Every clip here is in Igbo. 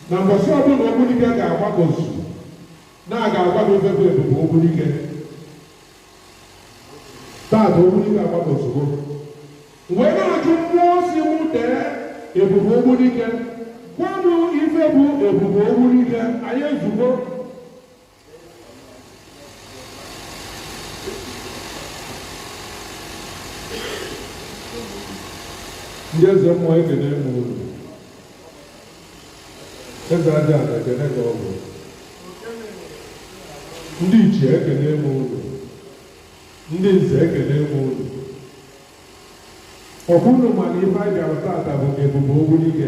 na mbọsị ọbụla ogbunike ga-agbakọzu na a ga-agwa gị ife bụ ebube ogbunike taata ogbunike agbakọzugo wee na-ajụ mmụọ si mụ dee ebube ogbunike gwa m ife bụ ebube ogbunike anyị ezugo ndị eze mmụọ ekene m unu eze aja ana ekene ka ọ bụ ndị ichie ekene m unu ndị nze ekene m unu ọkwa unu ma na ife anyị bịara taata bụ ebube ogbunike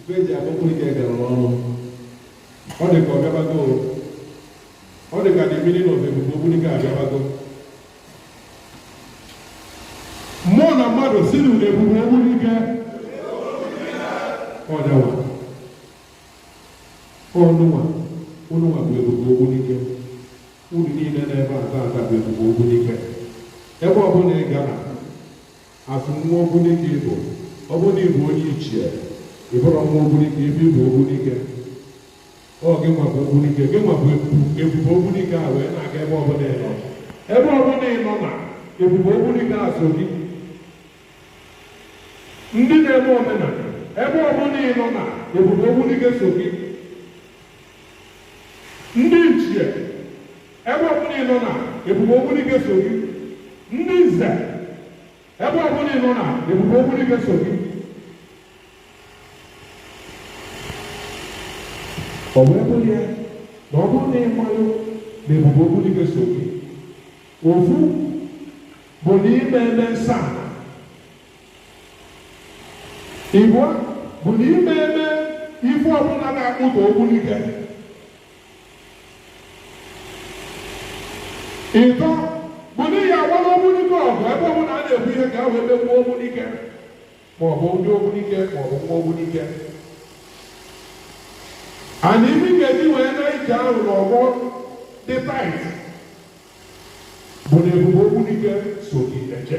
Ife e ji akpọ ogbunike gara n'ọnụ. Ọ dị ka ọ bịabago o. Ọ dị ka the meaning of ebube ogbunike abịabago. Mmụọ na mmadụ si na ebube ogbunike ọ dawa. Unu nwa unu nwa bụ ebube ogbunike. Unu niile nọ ebe a taata bụ ebube ogbunike. Ebe ọbụla ị gara As nwa ogbunike ị bụ, ọ bụrụ na ị bụ onye ichie, ị bụrụ nwa ogbunike, ife ị bụ ogbunike. Ọ gị nwa bụ ogbunike, gị nwa bụ ebu- ebube ogbunike a wee na-aga ebe ọbụla ị nọ. Ebe ọbụla ị nọ na ebube ogbunike a so gị. Ndị na-eme omenala, ebe ọbụla ị nọ na ebube ogbunike so gị. Ndị ichie, ebe ọbụla ị nọ na ebube ogbunike so gị ndị nze ebe ọbụla ị nọ na ebube ogbunike so gị ọ wee bụrụ ya na ọ bụrụ na ị malụ na ebube ogbunike so gị ofu bụ na ị ma eme nsọ ana ịbụa bụ na ị ma eme ife ọbụla na-akpụtọ ogbunike ịtọ bụ na ị ya-agbalụ ogbunike ọgụ ebe ọbụla a na-ekwu ihe ka ahụ emegbu ogbunike maọbụ ndị ogbunike maọbụ nwa ogbunike and ife ị ga-eji wee na ije ahụ n'ọgbọ dị tight bụ na ebube ogbunike so gị eje